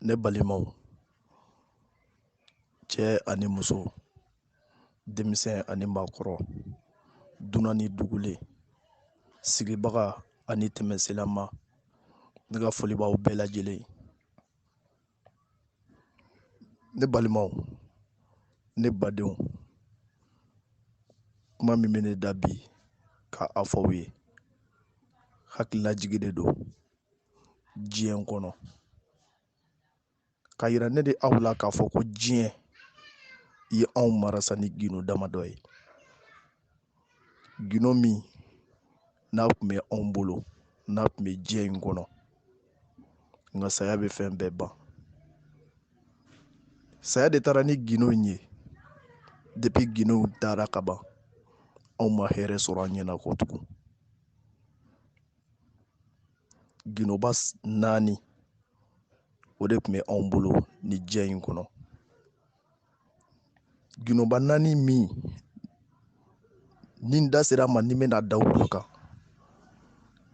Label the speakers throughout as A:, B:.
A: ne balimaw cɛ ani muso denmisɛn ani maakɔrɔ dunan ni dugulen sigibaga ani tɛmɛsenlama ne ka foli b'aw bɛɛ lajɛlen ne balimaw ne badenw kuma min bɛ ne da bi ka a fɔ aw ye hakililajigi de don diɲɛ kɔnɔ ka yira ne de aw la k'a fɔ ko diɲɛ in ye anw marasa ni gindo damadɔ ye gindo min n'a tun bɛ anw bolo n'a tun bɛ diɲɛ in kɔnɔ nka saya bɛ fɛn bɛɛ ban saya de taara ni gindo in ye depuis gindow taara ka ban anw ma hɛrɛ sɔrɔ an ɲɛna kɔ tugun gindoba naani o de tun bɛ anw bolo nin diɲɛ in kɔnɔ gindoba naani min ni n da sera a ma ni n bɛna da olu kan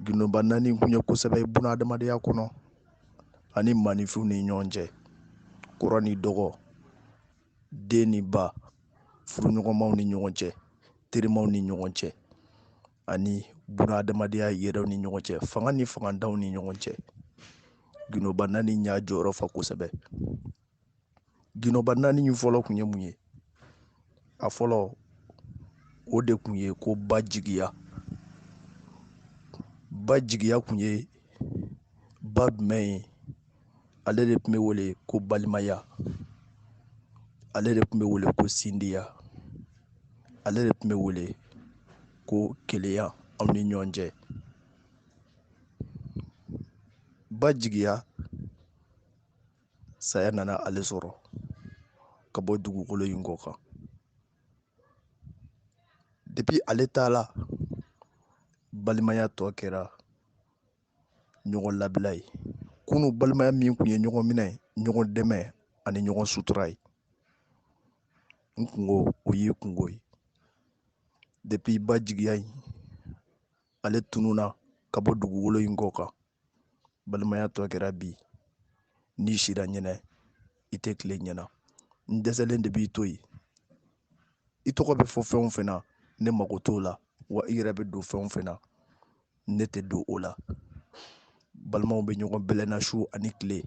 A: gindoba naani kun ye kosɛbɛ buna adamadenya kɔnɔ ani maaninfinw ni ɲɔgɔn cɛ kɔrɔ ni dɔgɔ den ni ba furuɲɔgɔnmaw ni ɲɔgɔn cɛ terimaw ni ɲɔgɔn cɛ ani buna adamadenya yɛrɛw ni ɲɔgɔn cɛ fanga ni fangantanw ni ɲɔgɔn cɛ gindoba naani y'a jɔyɔrɔ fa kosɛbɛ gindoba naani in fɔlɔ kun ye mun ye a fɔlɔ o de kun ye ko ba jigiya ba jigiya kun ye ba jumɛn ye ale de tun bɛ wele ko balimaya ale de tun bɛ wele ko sindiya ale de tun bɛ wele ko kelenya aw ni ɲɔgɔn cɛ ba jigiya saya nana ale sɔrɔ ka bɔ dugukolo in kɔ kan depuis ale taala balimaya tɔ kɛra ɲɔgɔn labila ye kunu balimaya min kun ye ɲɔgɔn minɛ ɲɔgɔn dɛmɛ ani ɲɔgɔn sutura ye n kunko o y'i kunko ye depuis ba jigiya in ale tununa ka bɔ dugukolo in kɔ kan balimaya tɔ kɛra bi n'i sira ɲɛ na i tɛ tile ɲɛ na n dɛsɛlen de b'i to yen i tɔgɔ bɛ fɔ fɛn o fɛn na ne mago t'o la wa i yɛrɛ bɛ don fɛn o fɛn na ne tɛ don o la balimaw bɛ ɲɔgɔn bɛlɛnna su ani tile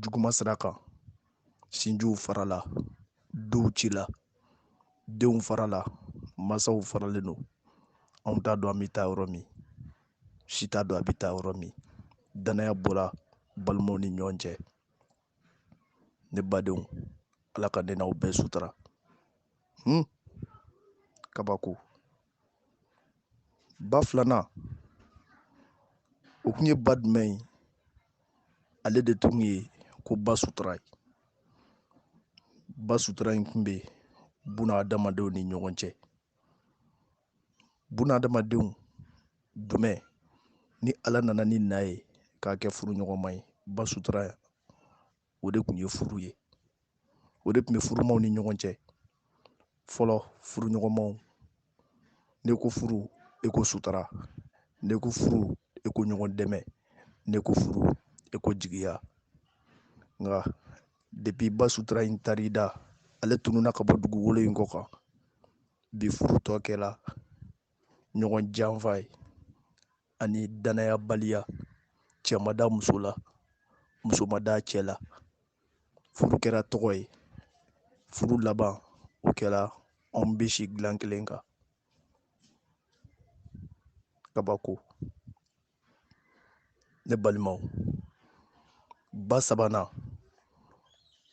A: juguma sira kan sinjiw farala duw cila denw farala mansaw faralen don anw t'a dɔn an bɛ taa yɔrɔ min si t'a dɔn a bɛ taa yɔrɔ min danaya bɔra balimaw ni ɲɔgɔn cɛ ne badenw ala ka ne n'aw bɛɛ sutura hmm? kabako ba filanan o kun ye ba jumɛn ye ale de tun ye ko ba sutura ye ba sutura in kun bɛ buna adamadenw ni ɲɔgɔn cɛ buna adamadenw jumɛn ni ala nana ni na ye k'a kɛ furuɲɔgɔnma ye ba sutura o de kun ye furu ye o de tun bɛ furumaw ni ɲɔgɔn cɛ fɔlɔ furuɲɔgɔnmaw ne ko furu e ko sutura ne ko furu e ko ɲɔgɔn dɛmɛ ne ko furu e ko jigiya nka depuis ba sutura in taar'i da ale tununa ka bɔ dugukolo in kɔ kan bi furu tɔ kɛra ɲɔgɔn janfa ye ani danayabaliya cɛ ma da muso la muso ma da cɛ la furu kɛra tɔgɔ ye furu laban o kɛra anw bɛ si dilan kelen kan kabako ne balimaw ba sabanan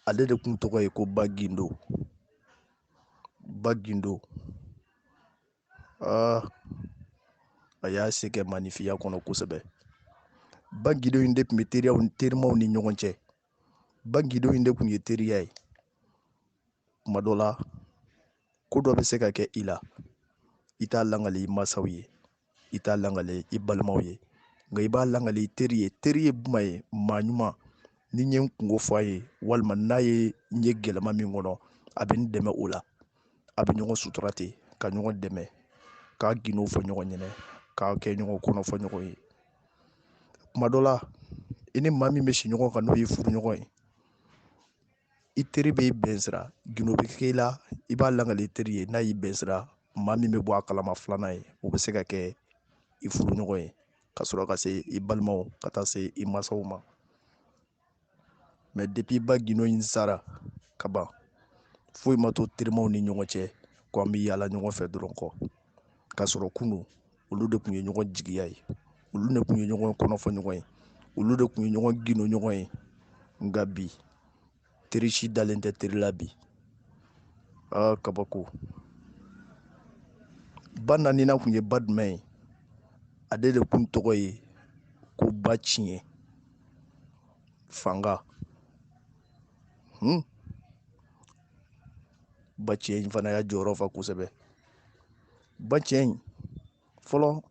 A: ale de kun tɔgɔ ye ko ba gindo ba gindo a y'a se kɛ maanifinya kɔnɔ kosɛbɛ ba gindo in de tun bɛ teriyaw ni terimaw ni ɲɔgɔn cɛ ba gindo in de tun ye teriya ye kuma dɔ la ko dɔ bɛ se ka kɛ i la i t'a langali i mansaw ye i t'a langali i balimaw ye nka i b'a langali i teri ye teri ye jumɛn ye maa ɲuman ni n ye n kungo fɔ a ye walima n'a ye n ye gɛlɛma min kɔnɔ a bɛ n dɛmɛ o la a bɛ ɲɔgɔn sutura ten ka ɲɔgɔn dɛmɛ k'a gindow fɔ ɲɔgɔn ɲɛna k'a kɛ ɲɔgɔn kɔnɔ fɔ ɲɔgɔn ye kuma dɔ la i ni maa min bɛ si ɲɔgɔn kan n'o ye furuɲɔgɔn ye i teri bɛ bɛn sira gindo bɛ k'i la i b'a langali i teri ye n'a y'i bɛn sira maa min bɛ bɔ a kalama filanan ye o bɛ se ka kɛ i furuɲɔgɔn ye ka sɔrɔ ka se i balimaw ka taa se i mansaw ma mɛ depuis ba gindo in sara ka ban foyi ma to terimaw ni ɲɔgɔn cɛ ko an bɛ yaala ɲɔgɔn fɛ dɔrɔn kɔ k'a sɔrɔ kunu olu de tun ye ɲɔgɔn jigiya ye olu de tun ye ɲɔgɔn kɔnɔfɔ ɲɔgɔn ye olu de tun ye ɲɔgɔn gindo ɲɔgɔn ye nka bi teri si dalen tɛ teri la bi aa kabako ba naaninan tun ye ba jumɛn ye ale de tun tɔgɔ ye ko ba tiɲɛ fanga hmm. ba tiɲɛ in fana y'a jɔyɔrɔ fa kosɛbɛ ba tiɲɛ in fɔlɔ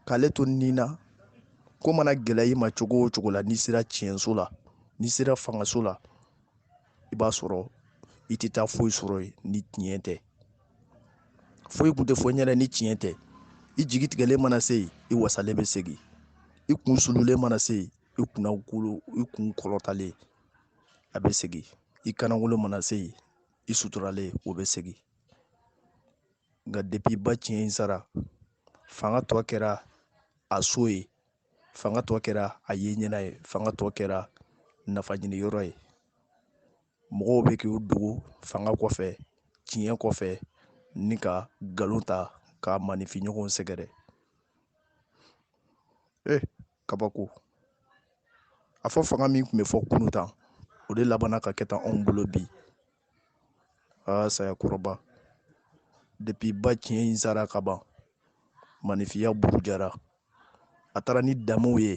A: k'ale to nin na ko mana gɛlɛya i ma cogo o cogo la n'i sera tiɲɛso la n'i sera fangaso la i b'a sɔrɔ i tɛ taa foyi sɔrɔ yen ni tiɲɛ tɛ foyi kun tɛ fɔ ɲɛna ni tiɲɛ tɛ i jigi tigɛlen mana se yen i wasalen bɛ segin i kun sululen mana se yen i kun kɔrɔtalen a bɛ segin i kannankolon mana se yen i suturalen o bɛ segin nka depuis ba tiɲɛ in sara fanga tɔ kɛra a so ye fanga tɔ kɛra a ye ɲɛna ye fanga tɔ kɛra nafa ɲini yɔrɔ ye mɔgɔw bɛ k'u dogo fanga kɔfɛ tiɲɛ kɔfɛ ni ka nkalon ta ka maaninfinɲɔgɔnw sɛgɛrɛ eh kabako a fɔ fanga min tun bɛ fɔ kunu tan o de labanna ka kɛ tan anw bolo bi aa saya kɔrɔba depuis ba tiɲɛ in sara ka ban maaninfinya burujara a taara ni danbew ye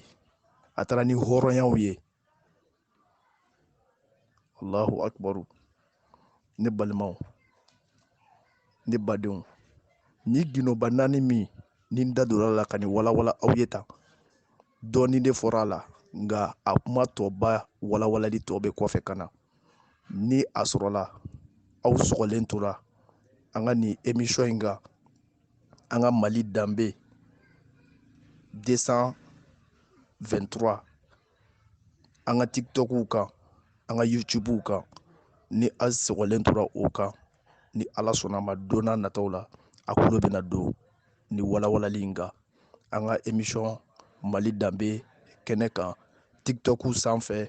A: a taara ni hɔrɔnyaw ye allahu akbaru ne balimaw ne badenw nin gindo ba naani min ni n da donna a la ka nin walawala aw ye tan dɔɔnin de fɔra a la nka a kuma tɔba walawalali tɔ bɛ kɔfɛ ka na ni a sɔrɔla aw sɔgɔlen tora an ka nin emisɔn in kan an ka mali danbe 223 an ka tikitɔkuw kan an ka yutubuw kan ni aw sɔgɔlen tora o kan ni ala sɔnna a ma don na nataw la a kulo bɛna don nin walawalali in kan an ka emisɔn mali danbe kɛnɛ kan tikitɔkuw sanfɛ